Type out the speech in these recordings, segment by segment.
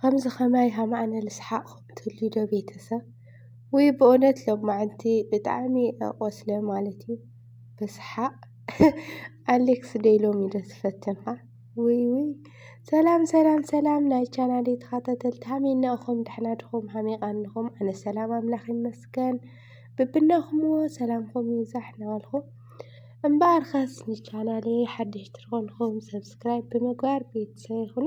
ኸምዚ ኸማይ ሃማኣነ ልስሓቅኹም ትህልዩ ዶ ቤተሰብ ውይ ብእውነት ሎማዓንቲ ብጣዕሚ ቆስለ ማለት እዩ ብስሓቅ ኣሌክስ ደይ ሎሚ ዶ ትፈትንኻ ውይ ውይ ሰላም ሰላም ሰላም ናይ ቻናል ተኸታተልቲ ሃሜና እኹም ደሕና ድኹም ሃሜቃ እንኹም ኣነ ሰላም ኣምላኽ ይመስገን ብብናኹምዎ ሰላምኹም ይብዛሕ ናበልኹ እምበኣር ኸስ ንቻናለይ ሓድሽ ትኾንኹም ሰብስክራይብ ብምግባር ቤተሰብ ይኹኑ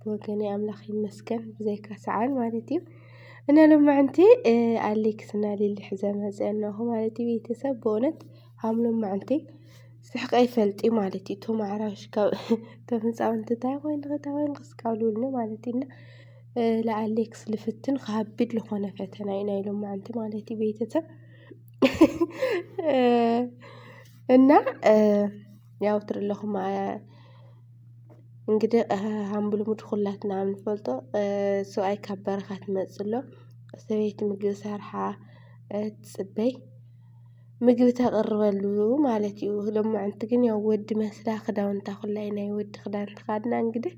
ብወገነይ ኣምላኽ ይመስገን ብዘይካ ሰዓል ማለት እዩ እና ሎማዕንቲ ኣሌክስ እና ሊሊ ሕዘ መፀ እናኹ ማለት እዩ ቤተሰብ ብእውነት ሃም ሎማዕንቲ ስሕቀ ይፈልጥ እዩ ማለት እዩ እቶም ኣዕራሽ ካብ እቶም ህፃውንቲ እንታይ ኮይን ኸታ ኮይን ክስካብልብልኒ ማለት እዩ እና ለኣሌክስ ልፍትን ከሃብድ ልኾነ ፈተና እዩ ናይ ሎማዕንቲ ማለት እዩ ቤተሰብ እና ያው ትርለኹም እንግዲህ ከም ብልሙድ ኩላትና እንፈልጦ ሰብኣይ ካብ በረኻ ክመፅእ ከሎ ሰበይቲ ምግቢ ሰሪሓ ትፅበይ ምግቢ ተቕርበሉ ማለት እዩ። ሎማዓንቲ ግን ያው ወዲ መስርያ ክዳውንታ ኩላ እዩ ናይ ወዲ ክዳን ተኸዲና እንግዲህ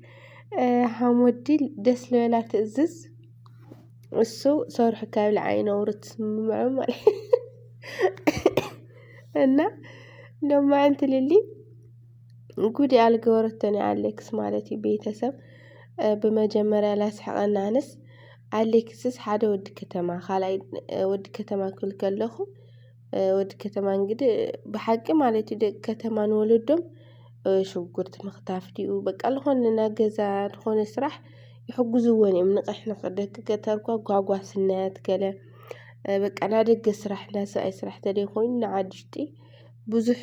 ከም ወዲ ደስ ዝበላ ትእዝዝ እሱ ሰርሑ ከብልዓ እዩ ነውሪ ትስምዖ ማለት እዩ። እና ሎማዓንቲ ልሊ ጉድ እያ ልገበረቶ ናይ ኣሌክስ ማለት እዩ ቤተሰብ ብመጀመርያ ላስሕቐኒ ኣነስ ኣሌክስስ ሓደ ወዲ ከተማ ካልኣይ ወዲ ከተማ ክብል ከለኹ ወዲ ከተማ እንግዲ ብሓቂ ማለት እዩ ደቂ ከተማ ንወለዶም ሽጉርቲ ምኽታፍ ድዩ በቃ ልኾነ ናይ ገዛ ልኾነ ስራሕ ይሕግዝዎን እዮም ንቕሕ ንቕሕ ደቂ ገጠር እኳ ጓጓስነት ገለ በቃ ናይ ደገ ስራሕ ናይ ሰብኣይ ስራሕ ተደይ ኮይኑ ንዓዲ ውሽጢ ብዙሕ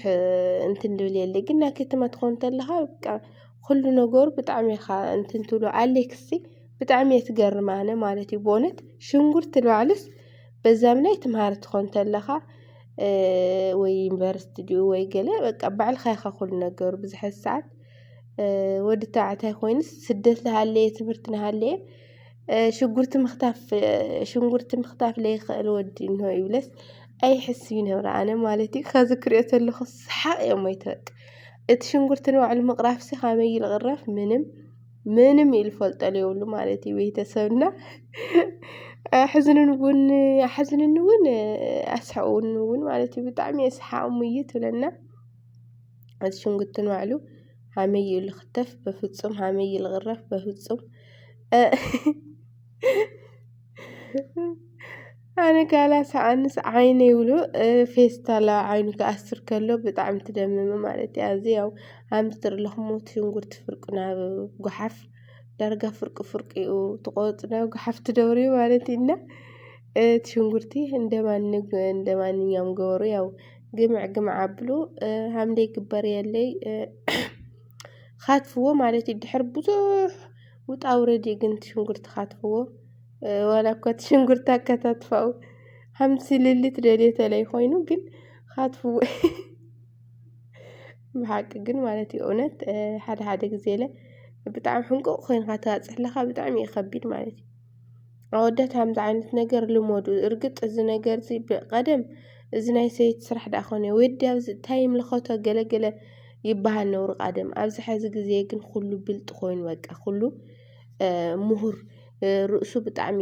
እንትን ድብል የለ ግን ናይ ከተማ ትኾን ተለኻ በቃ ኩሉ ነገሩ ብጣዕሚ ኢኻ እንትን ትብሎ ኣሌክሲ ብጣዕሚ እየ ትገርም ኣነ ማለት እዩ ብእውነት ሽንጉርቲ ንባዕሉስ በዛም ላይ ትምሃር ትኾን ተለኻ ወይ ዩኒቨርሲቲ ድዩ ወይ ገለ በቃ ባዕልኻ ኢኻ ኩሉ ነገሩ ብዙሐት ሰዓት ወዲ ተባዕታይ ኮይኑስ ስደት ልሃለየ ትምህርቲ ንሃለየ ሽጉርቲ ምኽታፍ ሽንጉርቲ ምኽታፍ ለይኽእል ወዲ እነሆ ይብለስ ኣይሕስቢ ነብረ ኣነ ማለት እዩ ከዚ ክሪኦ ተለኹ ሰሓቕ እየ ሞይተ በቃ እቲ ሽንጉርቲ ንባዕሉ ምቕራፍሲ ካበይ እዩ ዝቕረፍ ምንም ምንም እዩ ዝፈልጦ ዘይብሉ ማለት እዩ ቤተሰብና ኣሕዝኑን እውን ኣሕዝኑኒ እውን ኣስሕቑኒ እውን ማለት እዩ ብጣዕሚ እየ ሰሓቕ ሙይት እብለና እቲ ሽንጉርቲ ንባዕሉ ሃመይ እዩ ልኽተፍ በፍጹም ሃመይ እዩ ልቕረፍ በፍጹም ኣነ ጋላ ሰኣንስ ዓይነ ይብሉ ፌስታላ ዓይኑ ክኣስር ከሎ ብጣዕሚ ትደምም ማለት እያ እዚ ያው ኣምስትር ኣለኹሞ እቲ ሽንጉርቲ ፍርቂ ናብ ጉሓፍ ዳርጋ ፍርቂ ፍርቂ እዩ ትቆፅ ናብ ጉሓፍ ትደብርዩ ማለት እዩና እቲ ሽንጉርቲ እንደማንኛውም ገበሩ ያው ግምዕ ግምዕ ኣብሉ ሃምደይ ግበር የለይ ኻትፍዎ ማለት እዩ ድሕር ብዙሕ ውጣ ውረድ እዩ ግን ሽንጉርቲ ኻትፍዎ ዋላ እኳ እቲ ሽንጉርቲ ኣከታትፋኡ ሃምሲ ልልት ደልየተለይ ኮይኑ ግን ኻትፍዎ ብሓቂ ግን ማለት እዩ እውነት ሓደ ሓደ ግዜ ለ ብጣዕሚ ሕንቁቕ ኮይንካ ትባፅሕ ለኻ ብጣዕሚ እዩ ኸቢድ ማለት እዩ ኣወዳት ከምዚ ዓይነት ነገር ልመዱ እርግጥ እዚ ነገር እዚ ብቀደም እዚ ናይ ሰይቲ ስራሕ ደኣ ኮነ ወዲ ኣብዚ እንታይ ይምልከቶ ገለ ገለ ይበሃል ነሩ ቀደም ኣብዚ ሕዚ ግዜ ግን ኩሉ ብልጥ ኮይኑ በቃ ኩሉ ምሁር ርእሱ ብጣዕሚ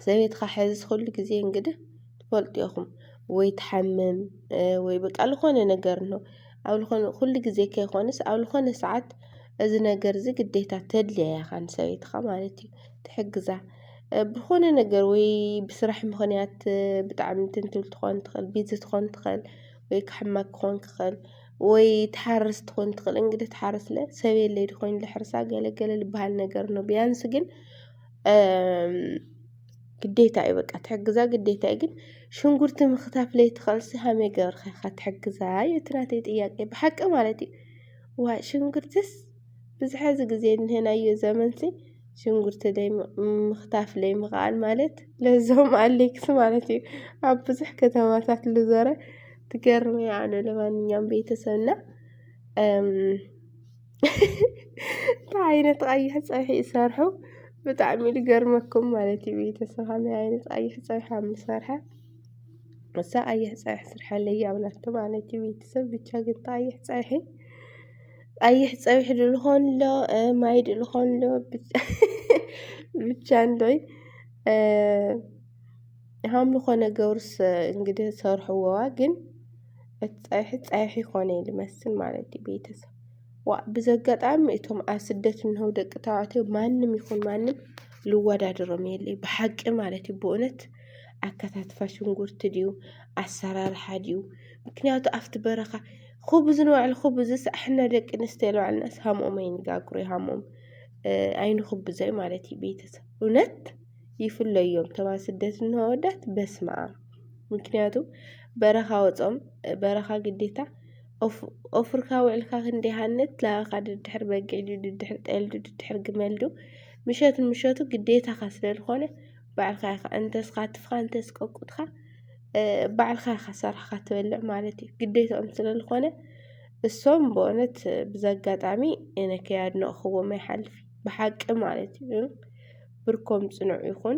ሰበይትኻ ሕዚ ኩሉ ግዜ እንግዲህ ትፈልጡ ኢኹም ወይ ትሓምም ወይ በቃ ልኾነ ነገር ነው ኣብ ልኾነ ኩሉ ግዜ ከይኮነስ ኣብ ልኾነ ሰዓት እዚ ነገር እዚ ግዴታ ተድልያ ኢኻ ንሰበይትኻ ማለት እዩ ትሕግዛ ብኾነ ነገር ወይ ብስራሕ ምኽንያት ብጣዕሚ እንትን ትብል ትኾን ትኽእል ቢዚ ትኾን ትኽእል ወይ ክሕመቅ ክኾን ክኽእል ወይ ትሓርስ ትኾን ትኽእል እንግዲ ትሓርስ ለ ሰብ የለይ ድኾይን ልሕርሳ ገለገለ ልበሃል ነገር ን ቢያንስ ግን ግዴታ እዩ በቃ ትሕግዛ ግዴታ እዩ ግን ሽንጉርቲ ምኽታፍ ለይትኸእልሲ ሃመይ ገብርካ ኢኻ ትሕግዛ እዩ እቲ ናተይ ጥያቄ ብሓቂ ማለት እዩ ዋይ ሽንጉርትስ ብዝሐ እዚ ግዜ እንሄናዮ ዘመንሲ ሽንጉርቲ ለይ ምኽታፍ ለይ ምኽኣል ማለት ለዞም ኣሌክስ ማለት እዩ ኣብ ብዙሕ ከተማታት ልዞረ ትገርም እያ ኣነ ለማንኛውም ቤተሰብና እንታይ ዓይነት ቐይሕ ፀብሒ እዩ ዝሰርሑ ብጣዕሚ እዩ ዝገርመኩም ማለት እዩ ቤተሰብ ከመይ ዓይነት ቐይሕ ፀብሒ ከም ዝሰርሐ እሳ ቐይሕ ፀብሒ ስርሐለይ እያ ብላቶ ማለት እዩ ቤተሰብ ብቻ ግን ቐይሕ ፀብሒ ቐይሕ ፀብሒ ዶ ዝኾን ኣሎ ማይ ዶ ዝኾን ኣሎ ብቻ እንዶይ ሃም ዝኾነ ገብርስ እንግዲህ ሰርሕዎዋ ግን እቲ ፀብሒ ፀብሒ ኮነ እዩ ዝመስል ማለት እዩ ቤተሰብ ዋእ ብዘጋጣሚ እቶም ኣብ ስደት እንሆ ደቂ ተባዕትዮ ማንም ይኹን ማንም ልወዳድሮም የለይ ብሓቂ ማለት እዩ ብእውነት ኣከታትፋ ሽንጉርቲ ድዩ ኣሰራርሓ ድዩ ምክንያቱ ኣብቲ በረኻ ኹብዝ ንባዕሉ ኹብዝስ ኣሕና ደቂ ኣንስትዮ ንባዕልናስ ሃምኦም ኣይንጋግሮ ሃምኦም ኣይንኹብዞ ማለት እዩ ቤተሰብ እውነት ይፍለዮም ተማ ስደት እንሆ ወዳት በስመ ኣብ ምክንያቱ በረኻ ወፆም በረኻ ግዴታ ኦፍርካ ውዕልካ ክንደይ ሃንት ላባኻ ድድሕር በጊዕ ድዩ ድድሕር ጠል ድዩ ድድሕር ግመል ድዩ ምሸት ምሸቱ ግዴታኻ ስለ ዝኾነ ባዕልካ ኢኻ እንተስ ካትፍካ እንተስ ቀቁጥካ ባዕልካ ኢኻ ሰራሕካ ትበልዕ ማለት እዩ ግዴታኦም ስለ ዝኾነ እሶም በእውነት ብዘጋጣሚ እነ ከያድነቕኽዎም ኣይሓልፍ ብሓቂ ማለት እዩ ብርኮም ጽኑዕ ይኹን።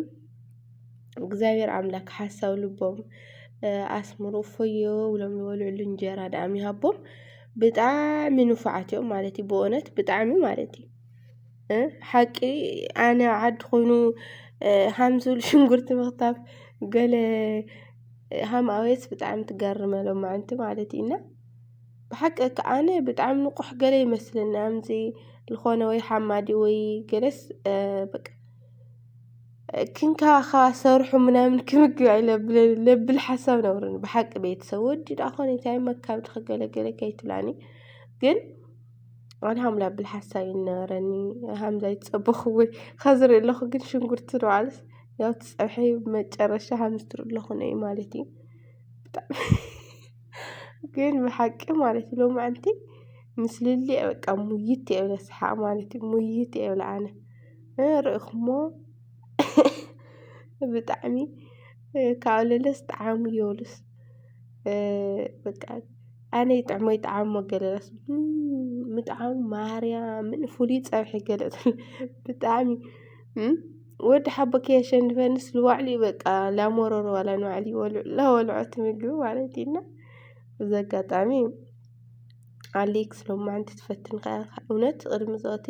እግዚኣብሔር ኣምላክ ሓሳብ ልቦም ኣስምሩ እፎዮ ብሎም ዝበልዕሉ እንጀራ ድኣም ይሃቦም። ብጣዕሚ ንፉዓት እዮም ማለት እዩ ብእውነት ብጣዕሚ ማለት እዩ ሓቂ ኣነ ዓዲ ኮይኑ ሃም ዝብል ሽንጉርቲ ምኽታፍ ገለ ሃም ኣውየስ ብጣዕሚ ትገርመሎም ምዓንቲ ማለት እዩ እና ብሓቂ ከዓነ ብጣዕሚ ንቁሕ ገለ ይመስለኒ ኣምዚ ልኾነ ወይ ሓማዲ ወይ ገለስ በቃ ክንከባኸባ ሰርሑ ምናምን ክምግባ ኢለ ለብል ሓሳብ ነበረኒ ብሓቂ ቤተሰብ ወዲ ደኣ ኾነ እንታይ እሞ ካብዲ ገለ ገለ ከይትብላኒ ግን ኣነ ሃም ላብል ሓሳብ እዩ ዝነበረኒ ሃምዛ ይጸበኹ ወይ ኸዚ ዝሪኦ ኣለኹ ግን ሽንጉርቲ ንባዕሉስ ያው እቲ ጸብሒ መጨረሻ ሃምዚ ትሪኡ ኣለኹ እዩ ማለት እዩ ብጣዕሚ ግን ብሓቂ ማለት እዩ ሎማዓንቲ ምስ ልሊ እየ በቃ ሙይይት እየ ዝብለ ስሓቅ ማለት እዩ ሙይይት እየ ዝብለ ኣነ ርኢኹሞ ብጣዕሚ ካብ ለለስ ጣዓሙ የብሉስ በቃ ኣነ ይጥዕሞ ይጥዓሞ ገለ ራሱ ምጥዓሙ ማርያምን ፍሉይ ፀብሒ ገለ ብጣዕሚ ወዲ ሓቦኪ የሸንፈንስ ልዋዕሉ እዩ በቃ ላሞረሮ ዋላ ንባዕሉ ይበልዑ ላወልዖት ምግቢ ማለት እዩና እዚ ኣጋጣሚ ኣሌክስ ሎማዕንቲ ትፈትን ከ እውነት ቅድሚ ዞቲ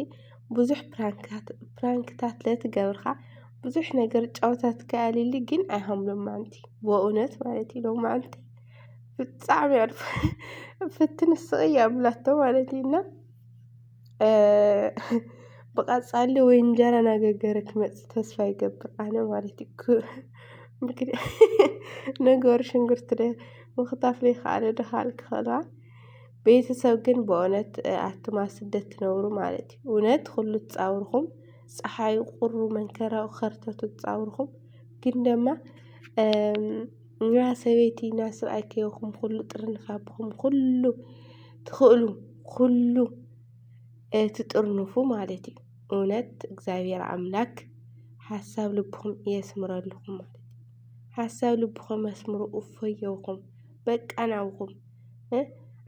ብዙሕ ፕራንክታት ፕራንክታት ለትገብርካ ብዙሕ ነገር ጫውታት ከኣልሊ ግን ኣይሃም ሎማዕንቲ ብእውነት ማለት እዩ ሎማዕንቲ ብጣዕሚ ዕርፍ ፍትን ስቕያ ብላቶ ማለት እዩና ብቐጻሊ ወይ እንጀራ ናገገረ ክመጽ ተስፋ ይገብር ኣነ ማለት እዩ ክ ምክድ ነገሩ ሽንጉርቲ ደ ምኽታፍ ዘይከኣለ ድኻል ክኸላ ቤተሰብ ግን ብእውነት ኣቱማ ስደት ትነብሩ ማለት እዩ እውነት ኹሉ ትጻውርኹም ፀሓይ ቑሩ መንከራኡ ኸርተቱ ትጻውርኹም ግን ደማ ን ሰበይቲ ን ሰብኣይ ከየኹምኩሉ ጥርንፍ ኣቢኹም ኩሉ ትኽእሉ ኩሉ ትጥርንፉ ማለት እዩ። እውነት እግዚኣብሔር ኣምላክ ሓሳብ ልብኹም የስምረልኹም ማለት እዩ። ሓሳብ ልብኹም ኣስምሩ እፎይ የብኹም በቃ ናብኹም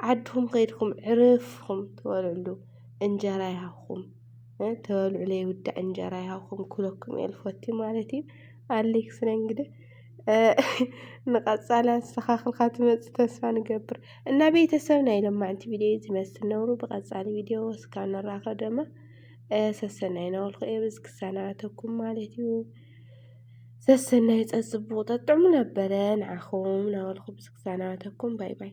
ዓድኹም ከይድኩም ዕርፍ ኢልኩም ትበልዕሉ እንጀራ ይሃብኩም ተበልዑ ለይውዳእ እንጀራ ይሃብኩም ክብለኩም እየ ልፈቱ ማለት እዩ። ኣሌክስ ነኝ እንግዲህ። ንቐፃሊ ኣስተኻኽልካ ትመፅእ ተስፋ ንገብር እና ቤተሰብ ናይ ሎማዕንቲ ቪድዮ ዝመስል ነብሩ ብቐፃሊ ቪድዮ እስካ ንራኸብ ደማ ሰሰናይ ናበልኩ እየ በዚ ክሰናበተኩም ማለት እዩ ሰሰናይ ፀፅቡቕ ጠጥዕሙ ነበረ ንዓኹም ናበልኩ ብዚ ክሰናበተኩም ባይ ባይ